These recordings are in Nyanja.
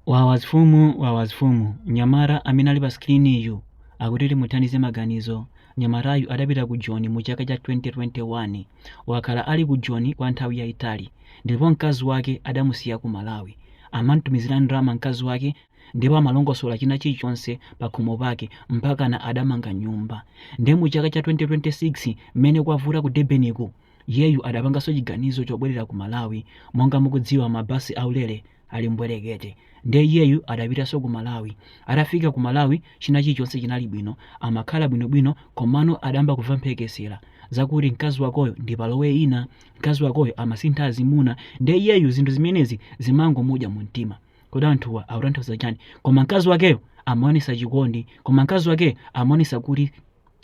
Wawa zfumu wawa zfumu nyamata amene ali pa screen-yu akuti timuthandize maganizo nyamatayu adapita ku joni mu chaka cha 2021 wakhala ali ku joni kwa nthawi yaitali ndipo mkazi wake adamusiya ku malawi amamtumizira ndalama mkazi wake ndipo amalongosola china chilichonse pakhomo pake mpakana adamanga nyumba nde mu chaka cha 2026 mmene kwavuta ku Durban-ku iyeyu adapanganso chiganizo chobwelera ku malawi monga mukudziwa ma bus aulere ali mbwerekete nde iyeyu adapitaso ku malawi atafika ku malawi china chilichonse chinali bwino amakhala bwino bwino komano adayamba kuva mphekesela zakuti mkazi wakoyo ndi palowe ina mkazi wakoyo amasintha azimuna nde iyeyu zinthu zimenezi zimangomudya mu mtima kodi anthuwa akutanthauza chani koma mkazi wakeyo amaonesa chikondi koma mkazi wakeyo amaonesa kuti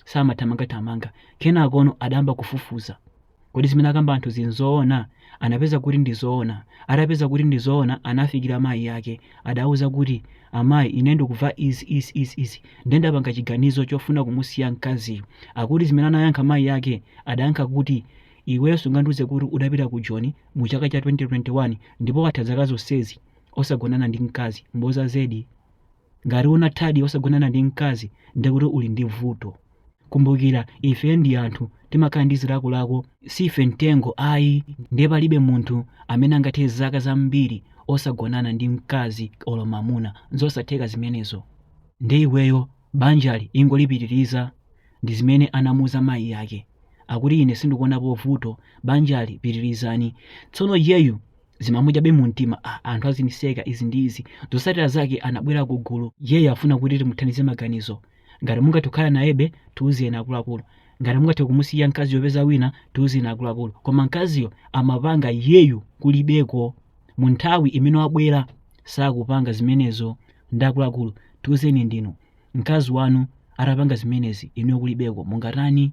samathamangathamanga kenakono adayamba kufufuza Kodi zimene akamba anthuzi n'zoona? Anapeza kuti ndi zoona. Atapeza kuti ndi zoona, anafikira mayi ake. Adawauza kuti, Amayi, ine ndikumva izi, izi, izi, izi, ndiye ndapanga chiganizo chofuna kumusiya mkaziyo. Akuti zimene anayankha mayi ake, adayankha kuti, Iweyo sungandiuze kuti udapita ku Joni mu chaka cha 2021 ndipo watha zaka zonsezi osagonana ndi mkazi. Mboza zedi! Ngati unathadi osagonana ndi mkazi ndiye kuti uli ndi vuto. Kumbukira ife ndi anthu timakhala ndi zilakolako siife mtengo ayi ndiye palibe munthu amene angathe zaka zambiri osagonana ndi mkazi olo mamuna nzosatheka zimenezo. Ndiye iweyo banjali ingolipitiliza ndi zimene anamuuza mayi ake akuti ine sindikuonapo vuto banjali pitilizani tsono iyeyu zimamudyabe mumtima a anthu aziniseka izi ndi izi zosatira zake anabwera ku gulu iyeyu afuna kuti timuthandize maganizo ngati mungathe kukhala nayebe tiuzeni akuluakulu ngati mungathe kumusiya mkaziyo kupeza wina tiuzeni akuluakulu koma mkaziyo amapanga iyeyu kulibeko mu nthawi imene wabwera sakupanga zimenezo nde akuluakulu tiuzeni inu mkazi wanu atapanga zimenezi inuyo kulibeko mungatani